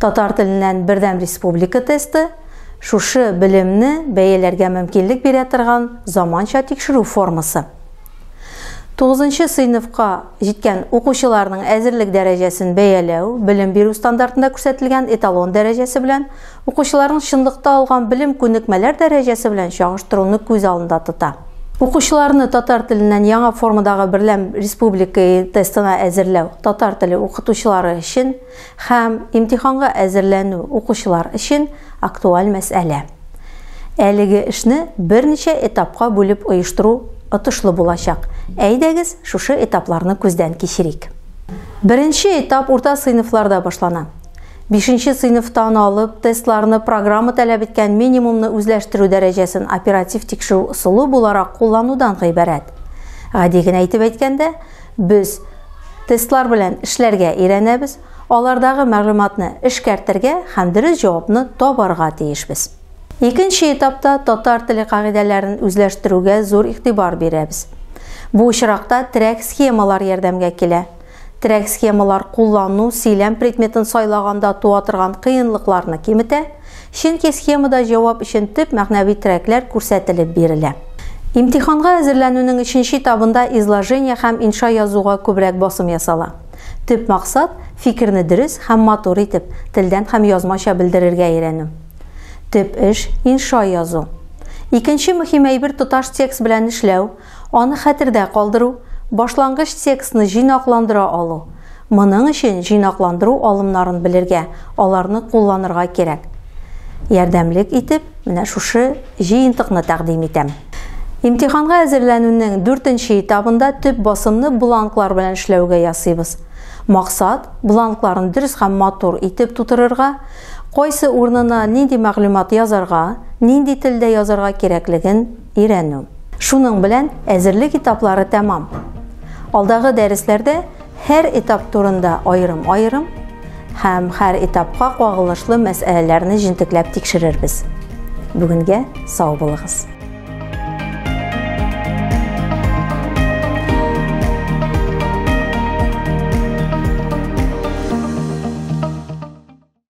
Татар теленнән бердәм республика тесты шушы белемне бәяләргә мөмкинлек бирә торган заманча тикшерү формасы. 9 сыйныфка җиткән укучыларның әзерлек дәрәҗәсен бәяләү белем бирү стандартында күрсәтелгән эталон дәрәҗәсе белән Укучыларның чынлыкта алган белем-күнекмәләр дәрәҗәсе белән чагыштыруны күз алдында тота. Укучыларны татар теленнән яңа формадагы берләм республика тестына әзерләү татар теле укытучылары өчен һәм имтиханга әзерләнү укучылар өчен актуаль мәсьәлә. Әлеге эшне берничә этапка бүлеп оештыру отышлы булачак. Әйдәгез, шушы этапларны күздән кичерик. Беренче этап урта сыйныфларда башлана. Бишенче сыйныфтан алып, тестларны программа таләп иткән минимумны үзләштерү дәрәҗәсен оператив тикшерү ысулы буларак кулланудан гыйбарәт. Гади генә итеп әйткәндә, без тестлар белән эшләргә өйрәнәбез, алардагы мәгълүматны эшкәртергә һәм дөрес җавапны табарга тиешбез. Икенче этапта татар теле кагыйдәләрен үзләштерүгә зур игътибар бирәбез. Бу очракта терәк схемалар ярдәмгә килә. Терәк схемалар куллану сөйләм предметын сайлаганда туа торган кыенлыкларны киметә, чөнки схемада җавап өчен төп мәгънәви терәкләр күрсәтелеп бирелә. Имтиханга әзерләнүнең өченче этабында изложение һәм инша язуга күбрәк басым ясала. Төп максат, фикерне дөрес һәм матур итеп, телдән һәм язмача белдерергә өйрәнү. Төп эш, инша язу. Икенче мөһим әйбер тоташ текст белән эшләү, Аны хәтердә калдыру, башлангыч текстны җыйнакландыра алу. Моның өчен җыйнакландыру алымнарын белергә, аларны кулланырга кирәк. Ярдәмлек итеп, менә шушы җыентыкны тәкъдим итәм. Имтиханга әзерләнүнең дүртенче этабында төп басымны бланклар белән эшләүгә ясыйбыз. Максат, бланкларны дөрес һәм матур итеп тутырырга, кайсы урынына нинди мәгълүмат язарга, нинди телдә язарга кирәклеген өйрәнү. Шуның белән әзерлек этаплары тәмам. Алдагы дәресләрдә һәр этап турында аерым-аерым һәм һәр этапка кагылышлы мәсьәләләрне җентекләп тикшерербез. Бүгенгә сау булыгыз!